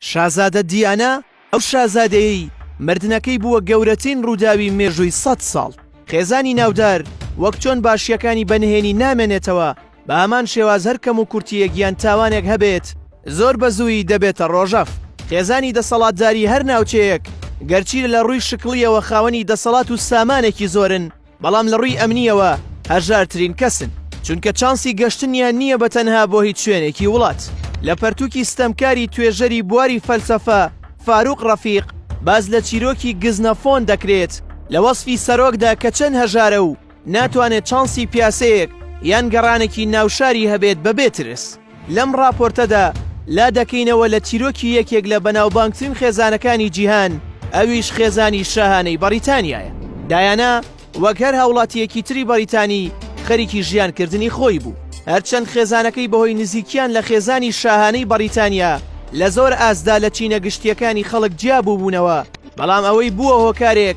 شازادە دیانا، ئەو شازادەیەی مردنەکەی بووە گەورەترین ڕووداوی مێژووی سەد ساڵ، خێزانی ناودار وەک چۆن باشییەکانی بە نهێنی نامێنێتەوە، بە هەمان شێواز هەر کەموکورتییەک یان تاوانێک هەبێت زۆر بە زوویی دەبێتە ڕۆژەڤ. خێزانی دەسەڵاتداری هەر ناوچەیەک گەرچی لە ڕووی شکڵییەوە خاوەنی دەسەڵات و سامانێکی زۆرن، بەڵام لە ڕووی ئەمنییەوە هەژارترین کەسن چونکە چانسی گەشتنیان نییە بە تەنها بۆ هیچ شوێنێکی وڵات لە پەرتووکی ستەمکاری توێژەری بواری فەلسەفە فاروق ڕەفیق باز لە چیرۆکی گزنەفۆن دەکرێت لە وەسفی سەرۆکدا کە چەند هەژارە و ناتوانێت چانسی پیاسەیەک یان گەڕانێکی ناوشاری هەبێت بەبێ ترس. لەم ڕاپۆرتەدا لا دەکەینەوە لە چیرۆکی یەکێک لە بەناوبانگترین خێزانەکانی جیهان، ئەویش خێزانی شاهانەی بەڕیتانیایە. دایانا وەک هەر هاوڵاتییەکی تری بەڕیتانی، خەریکی ژیانکردنی خۆی بوو. هەرچەند خێزانەکەی بەهۆی نزیکییان لە خێزانی شاهانەی بەڕیتانیا، لە زۆر ئاستدا لە چینە گشتییەکانی خەڵک جیا بووبوونەوە، بەڵام ئەوەی بووە هۆکارێک،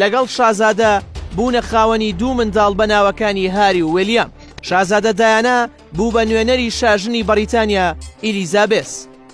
لەگەڵ شازادە بوونە خاوەنی دوو منداڵ بە ناوەکانی هاری و ویلیام. شازادە دایانا بوو بە نوێنەری شاژنی بەڕیتانیا ئیلیزابێس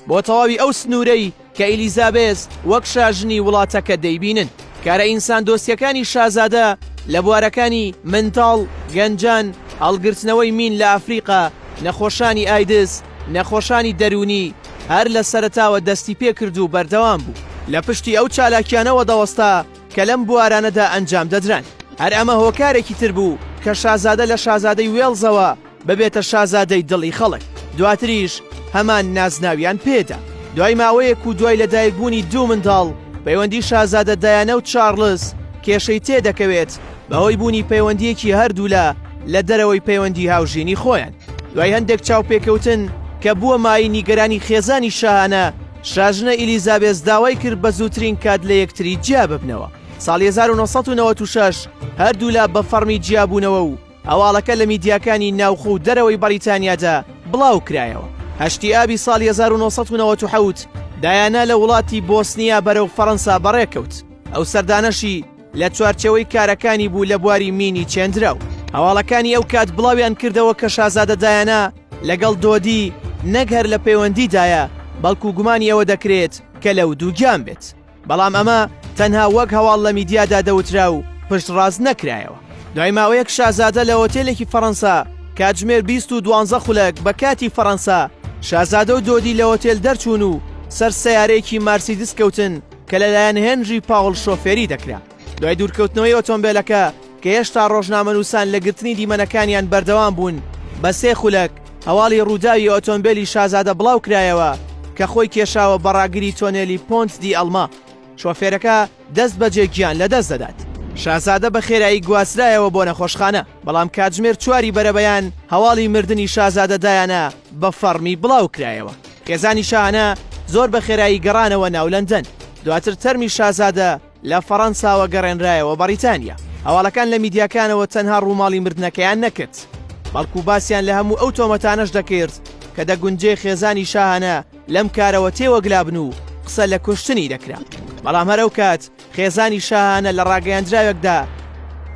بۆ تەواوی ئەو سنوورەی کە ئیلیزابێس وەک شاژنی وڵاتەکە دەیبینن. کارە ئینساندۆستییەکانی شازادە لە بوارەکانی منداڵ، گەنجان، هەڵگرتنەوەی مین لە ئەفریقا، نەخۆشانی ئایدز، نەخۆشانی دەروونی هەر لە سەرەتاوە دەستی پێکرد و بەردەوام بوو لە پشتی ئەو چالاکیانەوە دەوەستا کە لەم بوارانەدا ئەنجام دەدران هەر ئەمە هۆکارێکی تر بوو کە شازادە لە شازادەی وێڵزەوە ببێتە شازادەی دڵی خەڵک دواتریش هەمان نازناویان پێدا دوای ماوەیەک و دوای لەدایکبوونی دوو منداڵ پەیوەندی شازادە دایانە و چارلز کێشەی تێدەکەوێت بەهۆی بوونی پەیوەندییەکی هەردوولا لە دەرەوەی پەیوەندی هاوژینی خۆیان دوای هەندێک چاوپێکەوتن کە بووە مایەی نیگەرانی خێزانی شاهانە شاژنە ئیلیزابێس داوای کرد بە زووترین کات لە یەکتری جیا ببنەوە ساڵی 1996 هەردوولا بە فەڕمی جیابوونەوە و هەواڵەکە لە میدیاکانی ناوخۆ و دەرەوەی بەڕیتانیادا بڵاو کرایەوە هەشتی ئابی ساڵی 1990 دایانا لە وڵاتی بۆسنیا بەرەو فەڕەنسا بەڕێکەوت ئەو سەردانەشی لە چوارچێوەی کارەکانی بوو لە بواری مینی چێندراو هەواڵەکانی ئەو کات بڵاویان کردەوە کە شازادە دایانا لەگەڵ دۆدی نەک هەر لە پەیوەندیدایە بەڵکو گومانی ئەوە دەکرێت کە لەو دووگیان بێت بەڵام ئەمە تەنها وەک هەواڵ لە میدیادا دەوترا و پشت ڕاست نەکرایەوە دوای ماوەیەک شازادە لە هۆتێلێکی فەڕەنسا کاتژمێر 2012 خولەک بە کاتی فەڕەنسا شازادە و دۆدی لە هۆتێل دەرچوون و سەر سیارەیەکی مارسیدس کەوتن کە لەلایەن هێنری پاوڵ شۆفێری دەکرا دوای دوورکەوتنەوەی ئۆتۆمبێلەکە کە هێشتا ڕۆژنامەنووسان لە گرتنی دیمەنەکانیان بەردەوام بوون بە سێ خولەک هەواڵی ڕووداوی ئۆتۆمبێلی شازادە بڵاو کرایەوە کە خۆی کێشاوە بە ڕاگری تۆنێلی پۆنت دی ئەڵما شۆفێرەکە دەست بەجێ گیان لەدەست دەدات. شازادە بە خێرایی گواسترایەوە بۆ نەخۆشخانە بەڵام کاتژمێر چواری بەرەبەیان هەواڵی مردنی شازادە دایانە بە فەڕمی بڵاو کرایەوە. خێزانی شاهانە زۆر بە خێرایی گەڕانەوە ناو لەندەن، دواتر تەرمی شازادە لە فەڕەنساوە گەڕێنرایەوە بەڕیتانیا. هەواڵەکان لە میدیاکانەوە تەنها ڕووماڵی مردنەکەیان نەکرد، بەڵکو باسیان لە هەموو ئەو تۆمەتانەش دەکرد کە دەگونجێ خێزانی شاهانە لەم کارەوە تێوەگلابن و قسە لە کوشتنی دەکرا. بەڵام هەر ئەوکات خێزانی شاهانە لە ڕاگەیاندراوێکدا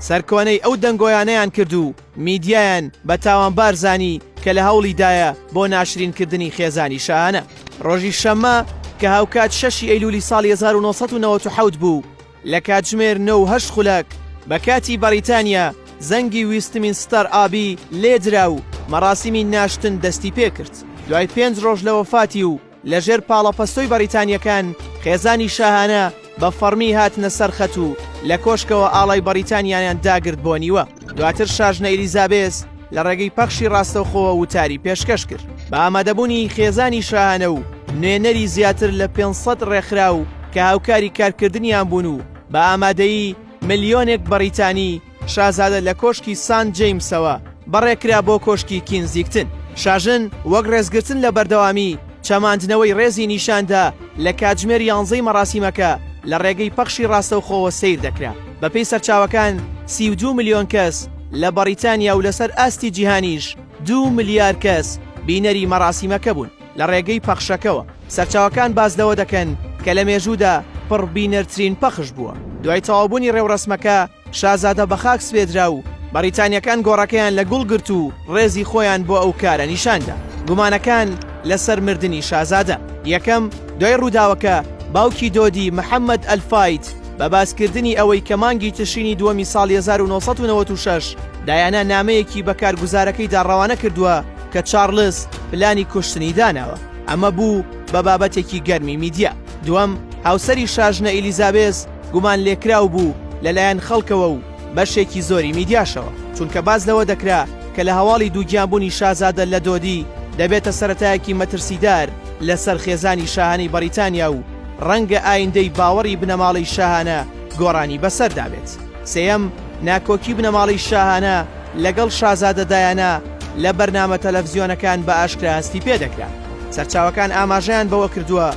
سەرکۆنەی ئەو دەنگۆیانەیان کرد و میدیایان بە تاوانبار زانی کە لە هەوڵی دایە بۆ ناشرینکردنی خێزانی شاهانە ڕۆژی شەممە کە هاوکات شەشی ئەیلولی ساڵی 1990 بوو لە کاتژمێر 9 خولەک بە کاتی بەریتانیا زەنگی ویستمین ستار ئابی لێدرا و مەراسیمی ناشتن دەستی پێکرد دوای پێنج ڕۆژ لە وەفاتی و لە ژێر پاڵەپەستۆی بەڕیتانییەکان خێزانی شاهانە بە فەڕمی هاتنە سەر خەت و لە کۆشکەوە ئاڵای بەڕیتانیایان داگرت بۆ نیوە دواتر شاژنە ئیلیزابێس لە ڕێگەی پەخشی ڕاستەوخۆوە وتاری پێشکەش کرد بە ئامادەبوونی خێزانی شاهانە و نوێنەری زیاتر لە 500 ڕێکخراو کە هاوکاری کارکردنیان بوون و بە ئامادەیی ملیۆنێک بەڕیتانی شازادە لە کۆشکی سانت جەیمسەوە بەڕێکرا بۆ کۆشکی کینزیگتن. شاژن وەک ڕێزگرتن لە بەردەوامی چەماندنەوەی ڕێزی نیشاندا لە کاتژمێر یانزەی مەراسیمەکە لە ڕێگەی پەخشی ڕاستەوخۆوە سەیر دەکرا. بەپێی سەرچاوەکان سی و دوو ملیۆن کەس لە بەڕیتانیا و لەسەر ئاستی جیهانیش دوو ملیار کەس بینەری مەراسیمەکە بوون لە ڕێگەی پەخشەکەوە. سەرچاوەکان باس لەوە دەکەن کە لە مێژوودا پڕبینەرترین پەخش بووە. دوای تەواوبوونی ڕێوڕەسمەکە، شازادە بەخاک سپێدرا و بەڕیتانیەکان گۆڕەکەیان لە گوڵ گرت و ڕێزی خۆیان بۆ ئەو کارە نیشاندا. گومانەکان لەسەر مردنی شازادە، یەکەم، دوای ڕووداوەکە باوکی دۆدی، محەمەد ئەلفاید، بە باسکردنی ئەوەی کە مانگی تشرینی دووەمی ساڵی هەزار و نۆ سەد و نەوەد و شەش دایانا نامەیەکی بە کارگوزارەکەیدا ڕەوانە کردووە کە چارڵز پلانی کوشتنی داناوە، ئەمە بوو بە بابەتێکی گەرمی میدیا. دووەم، هاوسەری شاژنە ئیلیزابێس، گومانلێکراو بوو لەلایەن خەڵکەوە و بەشێکی زۆری میدیاشەوە، چونکە باس لەوە دەکرا کە لە هەواڵی دووگیانبوونی شازادە لە دۆدی دەبێتە سەرەتایەکی مەترسیدار لەسەر خێزانی شاهانەی بەڕیتانیا و ڕەنگە ئایندەی باوەڕی بنەماڵەی شاهانە گۆڕانی بەسەردا بێت. سێیەم، ناکۆکی بنەماڵەی شاهانە لەگەڵ شازادە دایانا لە بەرنامە تەلەفزیۆنەکان بە ئاشکرا هەستی پێدەکرا. سەرچاوەکان ئاماژەیان بەوە کردووە،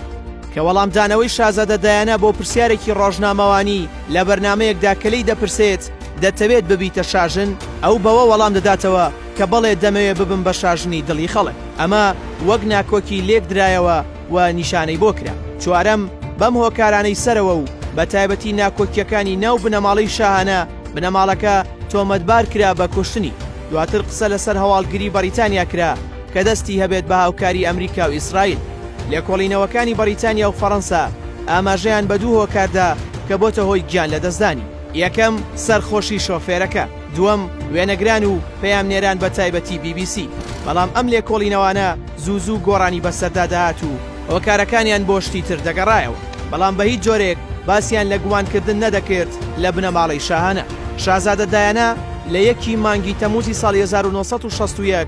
کە وەڵامدانەوەی شازادە دایانا بۆ پرسیارێکی ڕۆژنامەوانی لە بەرنامەیەکدا کە لێی دەپرسێت دەتەوێت ببیتە شاژن؟ ئەو بەوە وەڵام دەداتەوە کە بەڵێ دەمەوێت ببم بە شاژنی دڵی خەڵک. ئەمە وەک ناکۆکی لێکدرایەوە و نیشانەی بۆ کرا. چوارەم، بەم هۆکارانەی سەرەوە و بە تایبەتی ناکۆکییەکانی ناو بنەماڵەی شاهانە، بنەماڵەکە تۆمەتبار کرا بە کوشتنی. دواتر قسە لەسەر هەواڵگری بەڕیتانیا کرا کە دەستی هەبێت بە هاوکاری ئەمریکا و ئیسرائیل. لێکۆڵینەوەکانی بەڕیتانیا و فەڕەنسا ئاماژەیان بە دوو هۆکار دا کە بۆتە هۆی گیان لەدەستدانی، یەکەم، سەرخۆشی شۆفێرەکە، دووەم، وێنەگران و پەیامنێران بە تایبەتی بی بی سی، بەڵام ئەم لێکۆڵینەوانە زوو زوو گۆڕانی بەسەردا دەهات و هۆکارەکانیان بۆ شتی تر دەگەڕایەوە، بەڵام بە هیچ جۆرێک باسیان لە گومانکردن نەدەکرد لە بنەماڵەی شاهانە. شازادە دایانا لە یەکی مانگی تەمووزی ساڵی هەزار و نۆ سەد و شەست و یەک،